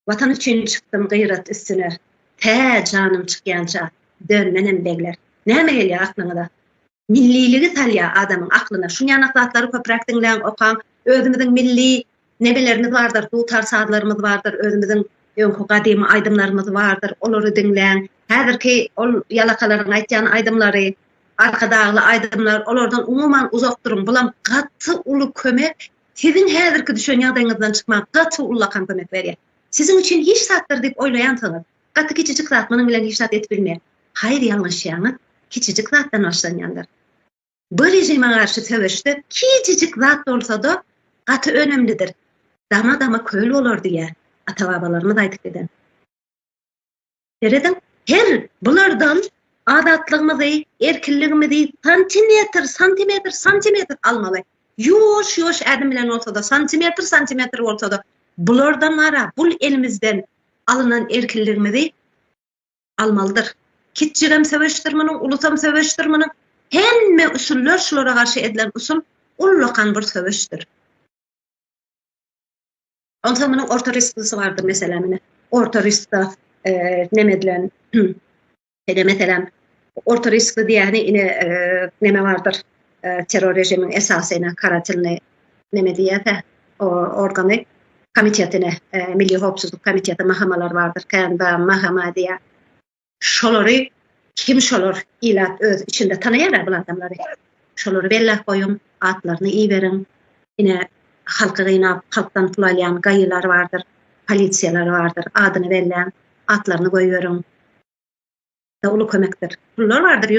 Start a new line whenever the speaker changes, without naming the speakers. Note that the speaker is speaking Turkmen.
Watan üçin çykdym gyrat üstüne, Tä janym çykýança dön menem begler. Näme gelýär aklyňyza? Milliligi salýar adamyň aklyna. Şunýanak zatlary köpräk diňläň, okaň. Özümiziň milli nebelerimiz bardyr, dutar sazlarymyz bardyr, özümiziň öňki gadymy aýdymlarymyz bardyr, olary diňläň. Häzirki ol ýalakalaryň aýtýan aýdymlary, Arkadagly aýdymlar, olardan umuman uzak duruň. Bulam gaty uly kömek Siziň häzirki düşen ýagdaýyňyzdan çykmaga gaty ullakan kömek berýär. Siziň üçin hiç zatdyr diýip oýlaýansyňyz. Gaty kiçijik zat munuň bilen hiç zat edip bilmeýär. Haýyr ýalňyşýaňyz, kiçijik zatdan başlanýandyr. Bu režime garşy söweşde kiçijik zat bolsada gaty önemlidir. Dama dama köl bolar diýýär ata-babalarymyz aýdyp giden. Serediň, her bulardan azatlygymyzy, erkinligimizi santimetr, santimetr, santimetr almaly. Ýuwaş-ýuwaş ädim bilen bolsa-da, santimetr, santimetr bolsa-da, bulardan wara, bul elimizden alynan erkinligimizi almalydyr. Kiçjigem söweşdir munuň, ulusam söweşdir munuň. Hemme usullar şulara garşy edilen usul ullakan bir söweşdir. Onsoň munuň orta risklisi bardyr meselem, ine. Orta riskda eee neme edilen? Ede meselem, orta riskli diýeni ine eee neme bardyr? Eee terror režimiň esasy ine karatilni neme diýýärse, o organy komitetine, eee milli howpsuzlyk komiteti mahamalar bardyr. Känbä mahama diýýär. Şolary kim şolar ilat öz içinde tanaýara bul adamlary şolary belläp goýuň atlaryny iberiň ine halky gynap halkdan pul alýan gaýylar bardyr polisiýalar bardyr adyny belläň atlaryny goýberiň da uly kömekdir pullar bardyr.